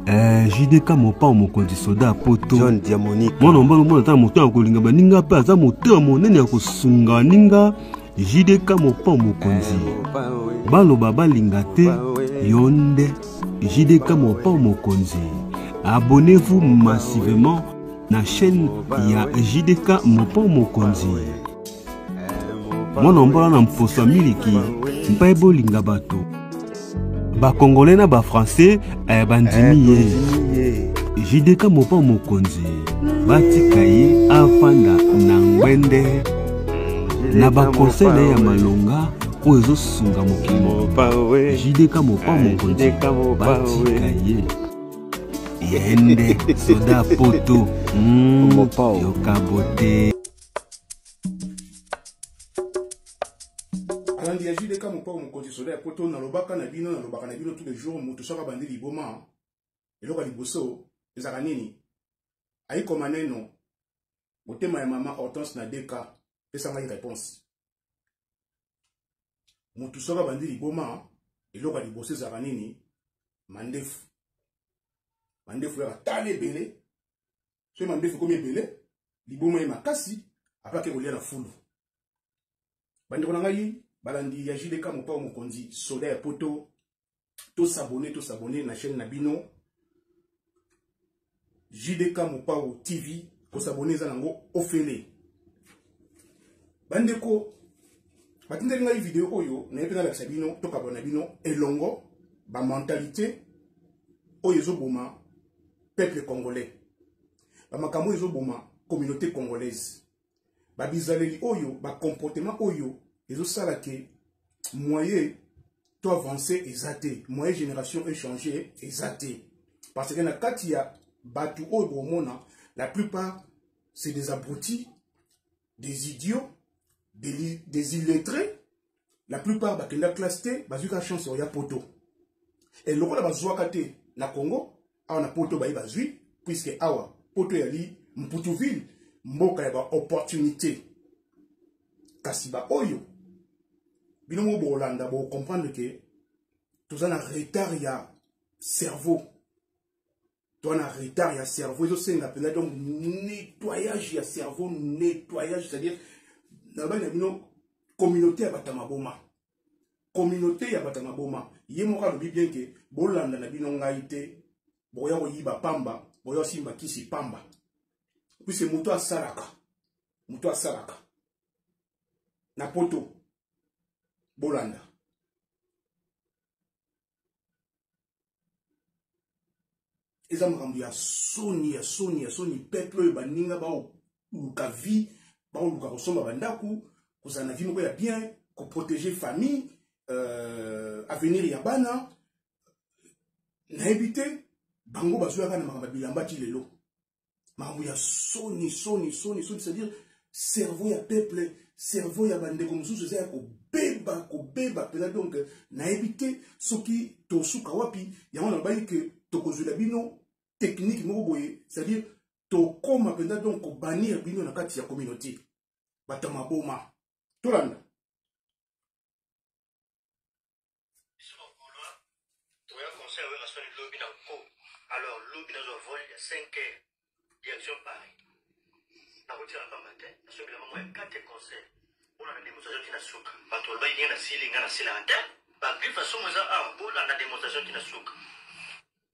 Eh, jdk mopao mokonzi soda ya poto john diamonique mwana mobali omona ata na moto ya kolinga baninga mpe aza motema monene ya kosunga baninga jdk mopao mokonzi baloba balinga te yo nde jdk mopao mokonzi abonnez-vous massivement na chaîne ya jdk mopao mokonzi mwana ombola na mposo ya miliki mpe bolinga bato bakongole na bafrançais eh, bandimi ye jideka mopa mokonzi batika ye afanda na ngwende na bakonsei na ye ya malonga oyo ezosunga mokili mobimba jideka mopa eh, mokonzi batika ye yende soda poto mm, yokabote nandi ya jude ka mopao mokonzi soda ya poto nalobaka na bino nalobaka na bino tous les jours moto soki abandi liboma eloko ya liboso ezalaka nini ayikoma neno motema ya mama hortense na deka pesa ngai réponse moto soki abandi liboma eloko ya liboso ezalaka nini mandefu mandefu yaka tala ebele soki mandefu ekomi ebele liboma ye makasi apres ake kolia na fulu bandeko na ngai balandi ya jdk mopao mokonzi soda ya poto tosabone tosabone na chaîne na bino jdk mopao tv kosabone eza nango ofele bandeko batindeli ngai video oyo naye mpe nalakisa bino tokabwana bino elongo bamentalité oyo ezoboma peuple congolais bamakambo oyo ezoboma communauté congolaise babizaleli oyo bacomportement oyo ezosala ke moyen to avance eza te moyen génération echange eza te parce que na kati ya bato oyo bokomona la plupart c'est des abrutis des idiots des, des illettrés la plupart bakenda classe te bazwi ka chance oya poto e lokola bazwaka te na congo awa na poto baye bazwi puiske awa poto eyali mputuville mboka ya baopportunité kasi baoyo bino moko bokolanda bokomprendre ke toza na retard ya cerveau toi na retard ya cerveau ezosenga mpenza donc nettoyage ya cerveau nettoyage c'est-à-dire nalobaki na bino communauté ya bato ya maboma communauté ya bato ya maboma ye moko alobi bien ke bolanda na bino ngai te bokoya koyiba pamba boya kosimba kisi pamba puise moto asalaka moto asalaka na poto bolanda eza makambo ya soni ya soni ya soni peuple oyo baninga baoluka vie baoluka kosomba bandako kozala na vie moko ya bien koprotege famille euh, avenir ya bana nayebi te bango bazoyaka na makambo ya bilamba ti lelo makambo ya soni soni soni soni c'est-à-dire cerveau ya peuple cerveau ya bandeko mosusu eza ya kobeba kobeba mpena donc nayebi te soki tosuka wapi yango nalobaki ke tokozwela bino technique moko boye c'est-à-dire tokoma mpenza donc kobanir bino na kati ya communauté bato ya maboma tolanda biso ba golois toya conseil ya werrason lobi na nko alors lobi nazwa vol ya 5 heures direction paris nakotika na pamba te nasobela mamo ya 4 conseil mpona na demonstration ti na suka bato balobaki ndenge nasili ngai nasilaka te bagriffe asomo eza awa bolanda demonstration ti na suka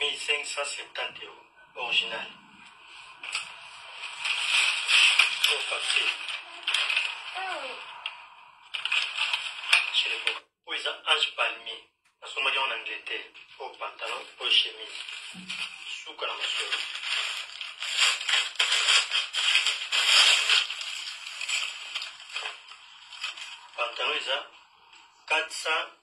1570 euro original au oh, papier oyo eza ange palmier nasomaki yango na angleterre oyo oh, pantalon oyo oh, chemise suka na masolo pantalon eza 400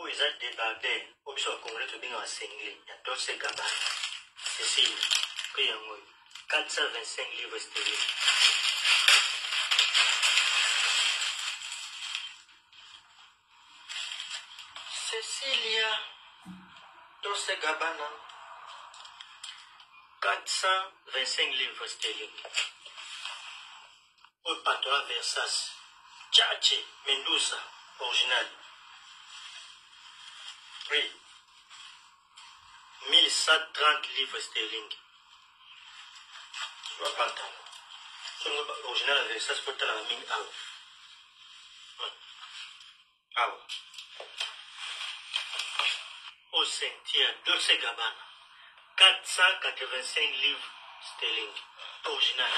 oyo eza debardel oyo biso bacongolais tobengaka sengle ya dolce gabana cecile mpe yango 425 livre sterling cecilia dolce gabana 425 livre sterling Oyo pantola versace tchatche mendusa original prix 1130 livres sterling ba pantalon songo ba original ya versace po talaka mingi awa Awa. Au cimetière Dolce Gabbana. 485 livres sterling. Original.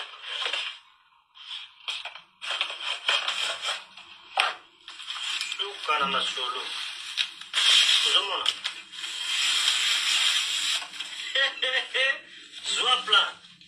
Luka na masolo. Ozomona? Zwa plan.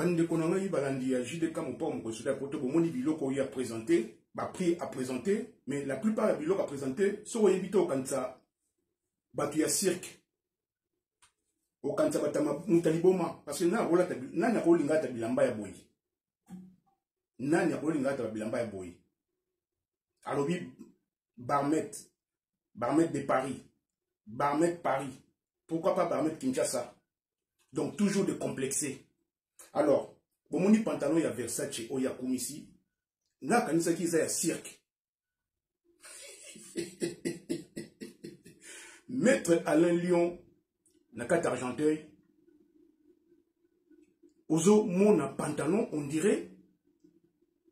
bandeko na ngai balandi ya jdk mopao mokonzi soda ya poto bomoni biloko oyo apresente baprix apresente mais la plupart ya biloko apresente soki oyebi te okanisa bato ya cirque okanisa batama moto ya liboma parce que nani akolinga ata bilamba ya boye nani akolinga ata bilamba ya boye alobi barmet barmet de paris barmet paris pourquoi pas barmet kinshasa donc toujours de complexe alors bomoni pantalon ya versace oyo akumisi nga akanisaki eza ya cirque maître alain lion na kati argenteuil ozomona pantalon on dirait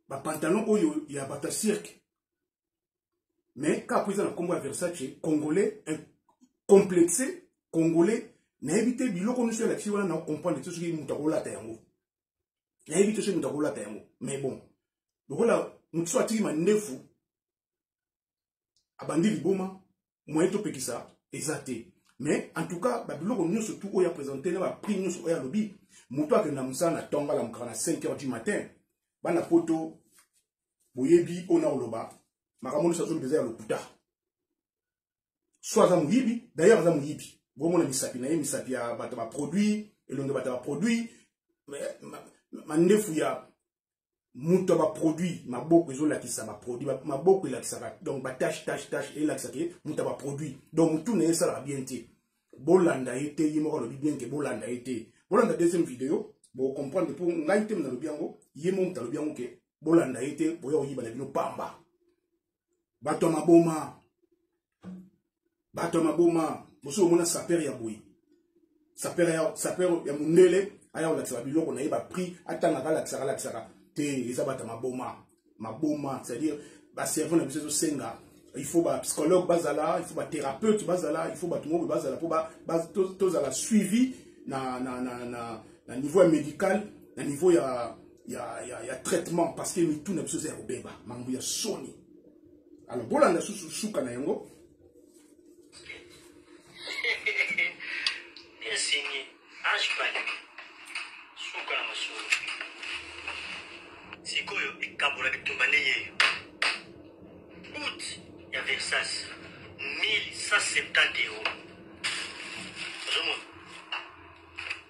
bapantalon oyo ya bato ya cirque mais kaka mpo eza na nkombo ya versace congolais complexe congolais nayebi te biloko nyonso elakisi wana na comprendre te soki moto akolata yango nayebi te soki moto akolata yango mais bon lokola moto so atiki mandefu abandi liboma moyen topekisa eza te mais en tout cas babiloko nyonso tu oyo apresente na baprix nyonso oyo alobi moto akenda mosala na ntongo alamukaka na 5 heures du matin bana poto boyebi oyo na koloba makambo nyonso azoloba eza ya lokuta soit aza moyibi d'ailleurs aza moyibi bomona misapi na ye misapi ya bato baproduit elongi ya bato baproduit mandefu ya moto ya baproduit maboko ezolakisa baproduit maboko elakisaka donc batache tache tache elakisaka ye moto ya baproduit donc motu na ye esalaka bien te bolanda ye te ye moko alobi bien ke bolanda ye te bolanda deuxième video bocomprendre mpo ngai te nalobi yango ye mo moto alobi yango ke bolanda ye te boya koyiba na bino pamba bato ya maboma bato ya maboma mosusu omona sapere ya boye sapere ya, sapere ya mondele aya kolakisaka biloko na ye baprix atangaka alakisaka alakisaka te eza bato ya maboma maboma c'est-à-dire baservant na biso ezosenga il faut bapsychologue bazala il faut bathérapeute bazala il faut bato moko bazala mpo tozala suivi na, na, na, na, na niveau ya médical na niveau ya ya, ya, ya traitement parce que mitu na biso eza ya kobeba mambo ya soni alors bolanda susu suka na yango esengi age panique suka na masolo sikoyo ekabola bitumba ndenge eyo out ya versas 1170 euro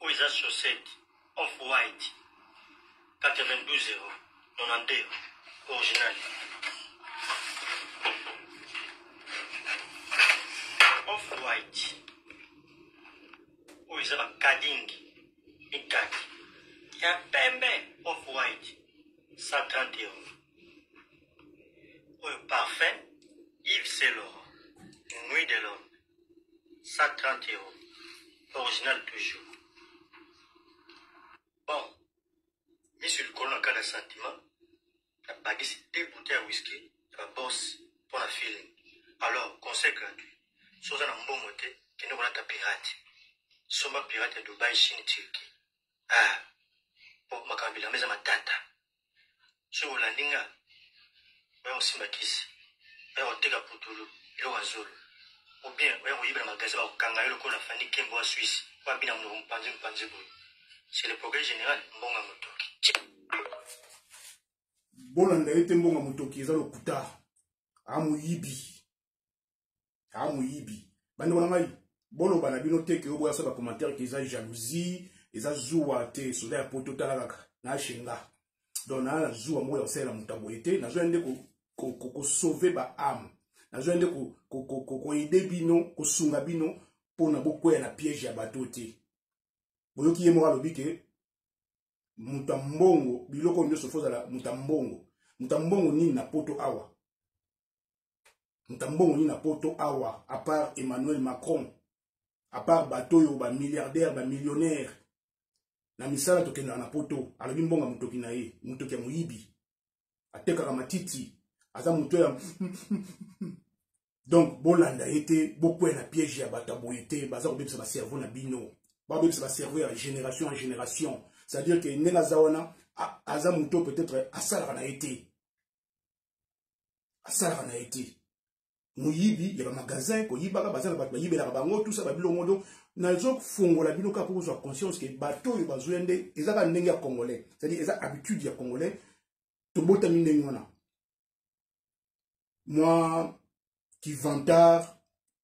oyo eza chaussette off white 92 euro 92 original off white oyo eza bakadingi mikaki ya pembe off white 130 euro oyo parfum yves selor nuit de l'homme 130 euros original toujours bon miso likolo na kala sentiment nabakisi te bute ya whisky ya babos mpo na feeling alors conseil gratuit so oza na mbongo te kende kolata pirate somba pirate ya dubai chine turki ah po makambo bilamba eza matata soki olandi nga oya kosimba kisi oya koteka putulu eloko ya zolo obien oya koyiba na magasin bakokanga yo lokola fandi kembo ya swisse oyo abina monoko mopanzi mopanzi boye c'est le progrès général mbonga motoki bolanda ye te mbonga motoki eza lokuta amoyibi a moyibi bande wana ngai boloba na bino te ke oboya sa ba commentaire ke eza jalousie eza zuwa te soda ya poto tala kaka na shenga donc na na zuwa moko ya kosalela moto aboye te nazoya nde kosauve ba ame nazoya nde koaide bino kosunga bino mpona bokweya na piège ya bato te boyoki ye moko alobi ke moto ya mbongo biloko nyonso fo ozala moto ya mbongo moto ya mbongo nini na poto awa ntambongo nini na poto awa à part emmanuel macron à part bato oyo bamilliardaire bamillionnaire na misala tokendaka na poto alobi mbonga motoki na ye motoki ya moyibi atekaka matiti aza moto ya donc bolanda ye te bokwea na piège ya bato ya boye te baza kobebisa bacerveau na bino babebisa bacerveau ya génération en génération c'est-à-dire ke ndenge aza wana aza moto peut-être asalaka na ye te asalaka na ye te moyibi ya bamagasin koyibaka baza na bato bayibelaka bango tusa babilongo do nazofungola bino kaka mpo kozwa conscience ke bato oyo bazoya nde eza kaka ndenge ya congolais cestadire eza habitude ya congolais tobotami ndenge wana mwa kivantard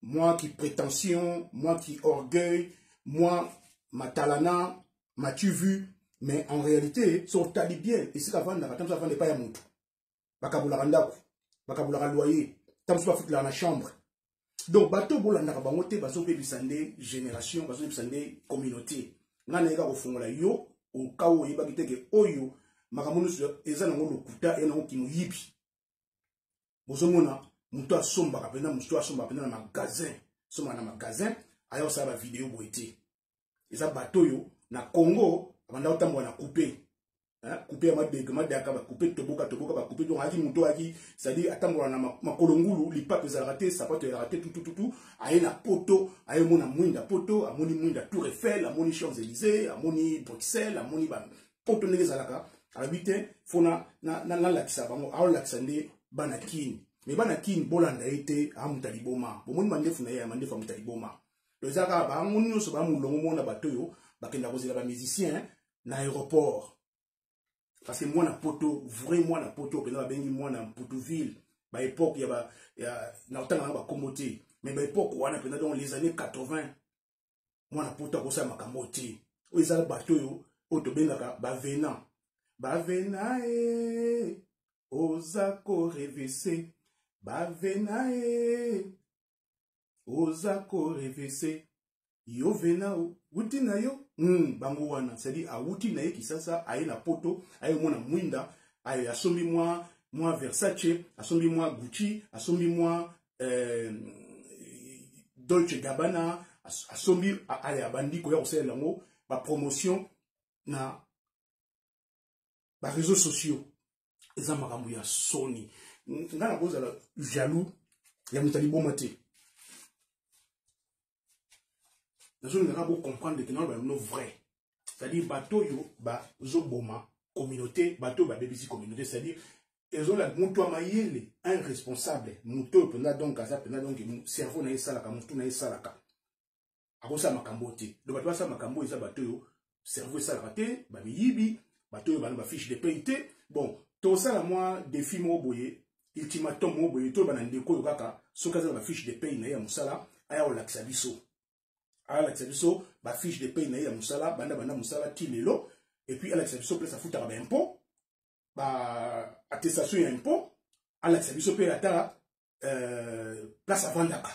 mwa kiprétention mwa kiorgueil mwa matalana matu vu mais en réalité so otali bien esika avandaka ntango avanda epai ya motu bakabolaka ndako bakabolaka loyer ntango mosusu bafutelaka na chambre donc bato bolandaka bango te bazobebisa nde génération bazobebisa nde communauté nga nayeka kofungola yo okao oyebaki te ke oyo makambo nyonso eza nango lokuta e nango kimoyibi bozomona moto asombaka mpenza mosusu asombaka mpenza na magasin sombaka na magasin aya kosala bavideo boye te eza bato oyo na congo abanda kotambola na coupe coupe ya madege madaka bacoupe toboka toboka bacoupe donc ayaki moto ayaki cestadire atambola na makolo ngulu lipape ezalaka te sapato ezalaka te tutututu aye na poto aye omona mwinda poto amoni mwinda tour eiffel amoni champs élysée amoni bruxelles amoni ba poto ndenge ezalaka alobi te fo nalakisa bango aolakisa nde bana kini me bana kini bolanda ye te amuta liboma bomoni mandefu na ye ya mandefu amuta liboma donc eza kaka bango nyonso ba molongo mona bato oyo bakenda kozela bamusicien na aéroport parce que mwana poto vrai mwana poto mpenza babengi mwana mputuville baepoke ya, ba, ya na kotanga na bakombo te mais baepoke wana mpenza donc les années 80 mwana poto akosala makambo te oyo eza bato oyo oyo tobengaka bavena bavena e oza korevese bavena e oza korevese yo vena uti na yo mm, bango wana cestadire awuti na ye kisasa aye na poto aye omona mwinda aye asombi mwa mwa versace asombi mwa gucci asombi mwa eh, dolce gabana asombi aye abandi koya kosalela yango bapromotion na ba réseaux sociaux eza makambo ya soni nga nakozala jaloux ya moto ya liboma te nazolingaka bocomprendre ke nano bamino vrai c'est-à-dire bato oyo bazoboma communauté bato oyo babebisi communauté c'est-à-dire ezola moto ya mayele un responsable moto oyo mpenza donc aza mpenza donc cerveau na ye esalaka motu na ye esalaka akosala makambo oyo te donc bato basala makambo oyo eza bato oyo cerveau esalaka te bamiyibi bato oyo bana bafiche de paye te bon tosala mwa defi moko boye ultimatum moko boye toyeba na ndeko oyo kaka soki aza na bafiche de paye na ye ya mosala aya kolakisa biso alakisa biso bafiche de paye na ye ya mosala banda banda mosala ti lelo epuis alakisa biso place afutaka baimpot baattestation ya impot alakisa biso mpe ata euh, place avandaka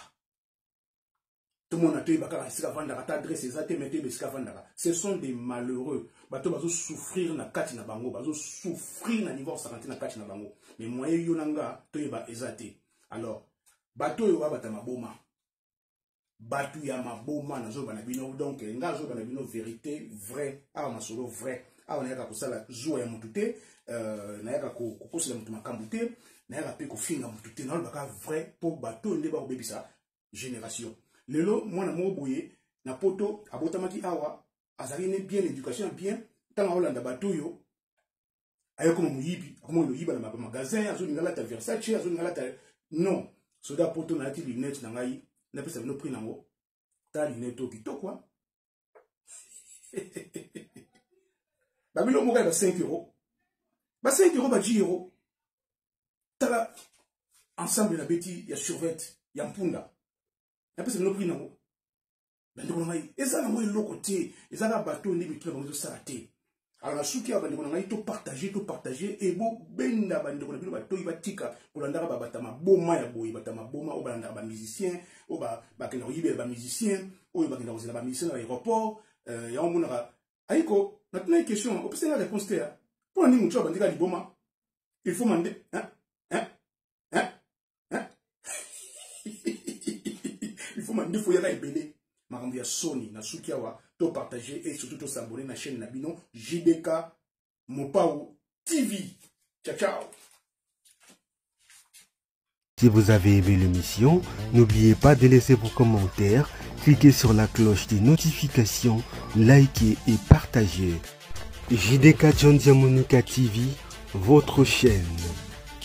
tomona toyeba kaka esika avandaka ata adresse eza te me toyeba esika avandaka ce sont des malheureux bato bazosouffrir na kati na bango bazosouffrir na niveau sakanti na kati na bango me moye yo na nga toyeba eza te alors bato oyo babata maboma batu ya maboma nazoba na bino donc nga azoba na bino verité vrai awa masolo vrai awa nayaka kosala zuwa ya motu te euh, nayaka kokosela motu makambo te nayaka mpe kofinga motu te nalobaka vrai mpo bato oyo nde bakobebisa génération lelo mwana moko boye na poto abotamaki awa azali ne bien éducation ya bien ntango akolanda bato oyo aye koma moyibi akoma koyiba na magasin azolinga alata versace azolinga alata non soda poto nalati lunette na ngai napesa bino prix nango ta lunette oyo kitoko babilo moko ya ba 5 euro ba 5 euro ba 10 euro tala ensemble na beti ya survete ya mpunda napesa bino prix nango bandeko na ngai eza nango eloko te eza na bato oyo nde mitu na bango ezosala te alors na suki ya bandeko na ngai topartage topartage ebobenda bandeko na bino batoyi batika kolandaka babata maboma ya boye bata maboma oyo balandaka bamusicien oyo bakenda koyibela bamusicien oyo bakenda kozela bamusicien na aéroport euh, yango omonaka ayiko natunaki question opesi nga réponse te ya mpo na nini motu abandika liboma il faut mande hein? il faut mandefu ya na ebele makambo ya soni na suki awa to partager et surtout to s'abonner na chaîne na bino JDK Mopao TV ciao ciao Si vous avez aimé l'émission, n'oubliez pas de laisser vos commentaires, cliquez sur la cloche des notifications, likez et partagez. JDK John Diamonica TV, votre chaîne.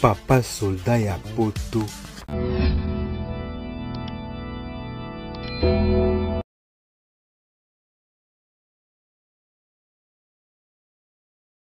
Papa soldat ya poto.